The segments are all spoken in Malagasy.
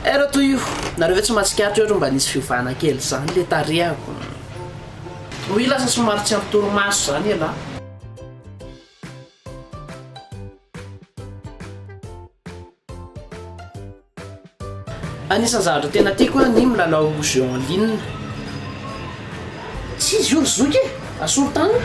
Eh ra toa io, nareo ve tsy mahatsikaritra hoe ohatry ny mba nisy fiovana kely zany le tarehako. Oui lasa somary tsy ampy torimaso zany ialahy. Anisan'ny zavatra tena tiako an ny milalao jeux en ligne. Tsy izy io ry zoky e! Asolo tany.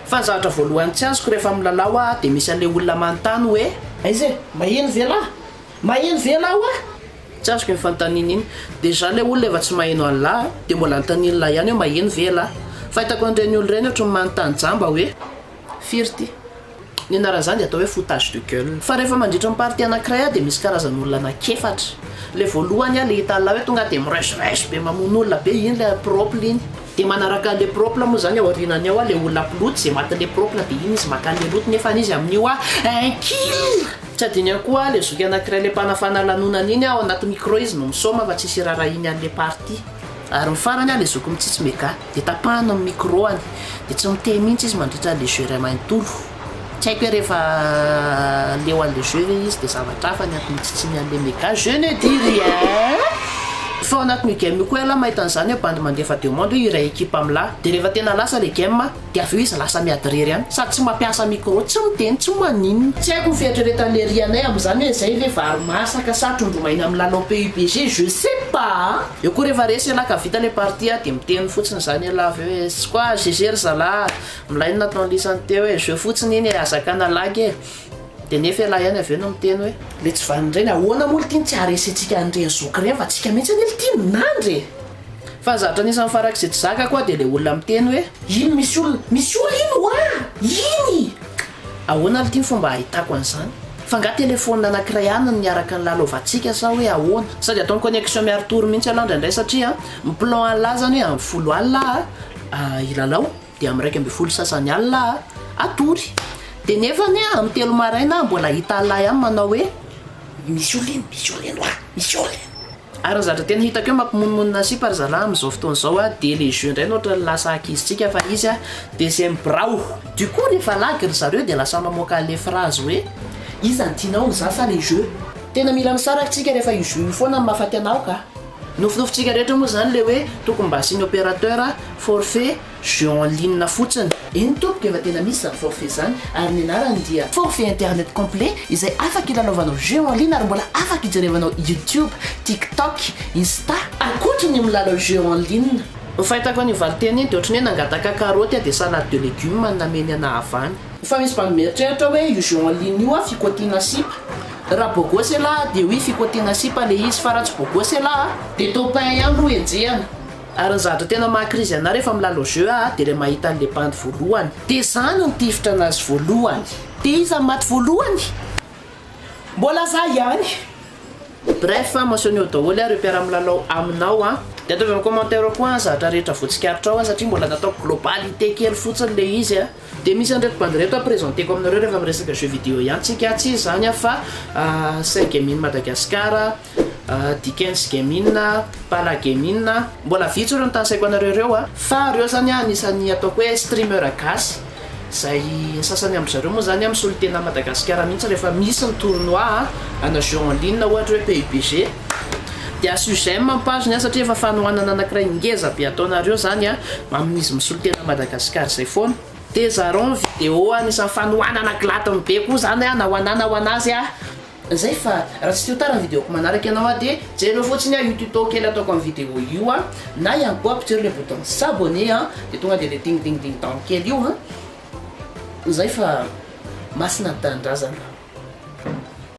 Fa ny zavatra voalohany tsy azoko rehefa milalao aho dia misy an'ilay olona manontany hoe. Aiza e? Maheno ve lahy? Maheno ve ianao hoa? Tsy azoko iny fanontaniana iny. Déjà ilay olona efa tsy maheno an'lah a! Dia mbola anontanian'lah ihany hoe maheno ve ialahy? Fahitako an'ireny olona ireny ohatran'ny manontany jamba hoe firy ity? Ny anaran'izany dia atao hoe foutage de gueule. Fa rehefa mandritra ny partie anankiray aho dia misy karazana olona anankefatra. Ilay voalohany ilay hitan'lah hoe tonga dia miresurège be mamono olona be iny ilay propre iny. Dia manaraka an'ilay propre moa izany ao aorianany ao ilay olona mpiloty izay matin'ilay propre dia iny izy maka an'ilay loto nefa izy amin'io hoa un kill! Tsy adino ihany koa le zoky anakiray le mpanafana lanonana iny ao anaty micro izy no misaoma fa tsisy irarahiny any le partie ary ny farany le zoky mitsitsy mega de tapahany ny micro any de tsy miteny mintsy izy mandritra le jeu ray manontolo tsy haiko hoe rehefa leo any le jeu ve izy de zavatra hafa ny ato mitsitsiny any le mega je ne dis rien fa ao anatin'io game io koa ialahy mahita an'zany hoe bandy mandefa demande hoe iray ekipa milaha de rehefa tena lasa le game Dia avy eo izy lasa miady irery ihany. Sady tsy mampiasa micro, tsy miteny, tsy maninona. Tsy haiko ny fieritreretan'i Hery anay amin'izany hoe izay ve vary masaka sa trondro maina milalao PUBG, je sais pas a! Eo koa rehefa resy ialahy ka vita ilay partie a, dia miteny fotsiny izany ialahy avy eo hoe tsy quoi GG ry zalahy a! Milay ny nataon'i Lisany teo e! Jeu fotsiny iny e! Aza hakana lagy e! Dia nefa ialahy ihany avy eo no miteny hoe. Ilay tsy vanona ireny, ahoana moa litiny tsy haharesentsika an'ireny zoky ireny fa tsika mihitsy anie litiny nandry e! Fa zatra anisan'ny farak'izay tsy zakako aho dia ilay olona miteny hoe. Iny misy olona, misy olona iny ho'a! Iny! Ahoana ary ity ny fomba ahitako an'izany? F'angaha telephone anankiray ihany no niaraka nilalaovantsika sa hoe ahoana? Sady ataony connexion miaro tour mihitsy ialahy indraindray satria ny plan an'lah zany hoe amin'ny folo alina aho hilalao dia amin'ny iraika ambin'ny folo sasany alina aho hatory dia nefa anie amin'ny telo maraina aho mbola hahita an'lah ihany manao hoe misy olona iny, misy olona iny ho'a! Misy olona iny! Ary ny zatra tena hitako eo mampimonomonona sipa ry zalahy amin'izao fotoana izao a dia le jeu indray no ohatran'ny lasa ankizintsika fa izy a dia c'est ny birao du coup rehefa lagy ry zareo dia lasa mamoaka an'le phrase hoe iza no tianao ny za sa le jeu? Tena mila misaraka tsika rehefa io jeu io foana no mahafaty anao ka! Nofinofintsika rehetra moa izany le hoe tokony mba asiany opérateur, forfait, Jeux en ligne fotsiny. Eny tompoko efa tena misy zany forfait zany ary ny anarany dia. Forfait internet complet izay afaka ilalaovanao jeux en ligne ary mbola afaka ijerevanao youtube, tiktok, insta. Ankoatry ny milalao jeux en ligne. Ny fahitako an'io valinteny io dia ohatry ny hoe nangataka karoty aho dia salade de legumes no nameny anah avy any. Fa misy mba mieritreritra hoe io jeux en ligne io a fikotiana sipa. Raha beau gosse elah dia oui fikotiana sipa le izy fa raha tsy beau gosse elah a. Dia top un ihany ro enjehina. Ary ny zavatra tena maha krizy anah rehefa milalao jeux ah dia ilay mahita an'ilay bandy voalohany. Dia izany no tifitra anazy voalohany. Dia iza no maty voalohany? Mbola za ihany. Bref, mentionne-o daholo ah ireo mpiara-milalao aminao an. Dia ataovy amin'ny commentaire koa an zatra rehetra voatsikaritra ao an satria mbola nataoko globalité kely fotsiny ilay izy an. Dia misy an'ireto bandy ireto ampresenteko aminareo rehefa miresaka jeux vidéo ihany tsika an, tsy izany an fa Saigaming Madagascar, Dickens Gaming, Bala Gaming, mbola vitsy ireo notanisaiko anareo ireo a, fa ireo zany a anisan'ny ataoko hoe streamer gasy, izay ny sasany amin-dry zareo moa zany a misolotena any Madagasikara mihitsy rehefa misy ny tournoi a, ana jeux en ligne ohatra hoe PUBG, de asio j'aime ny page-ny a satria efa fanohanana anakiray ngeza be ataonareo zany a amin'izy misolotena any Madagasikara izay foana, de zarao ny vidéo anisan'ny fanohanana gladiny be koa zany a na ho anah na ho an'azy a. Zay fa raha tsy te-ho tara ny video-ko manaraka ianao aho dia jerenao fotsiny an io tuto kely ataoko amin'ny video io an, na ihany koa ampitsero ilay bouton s'abonner an, dia tonga dia ilay ding ding ding dong kely io an, zay fa masina ny tanindrazana.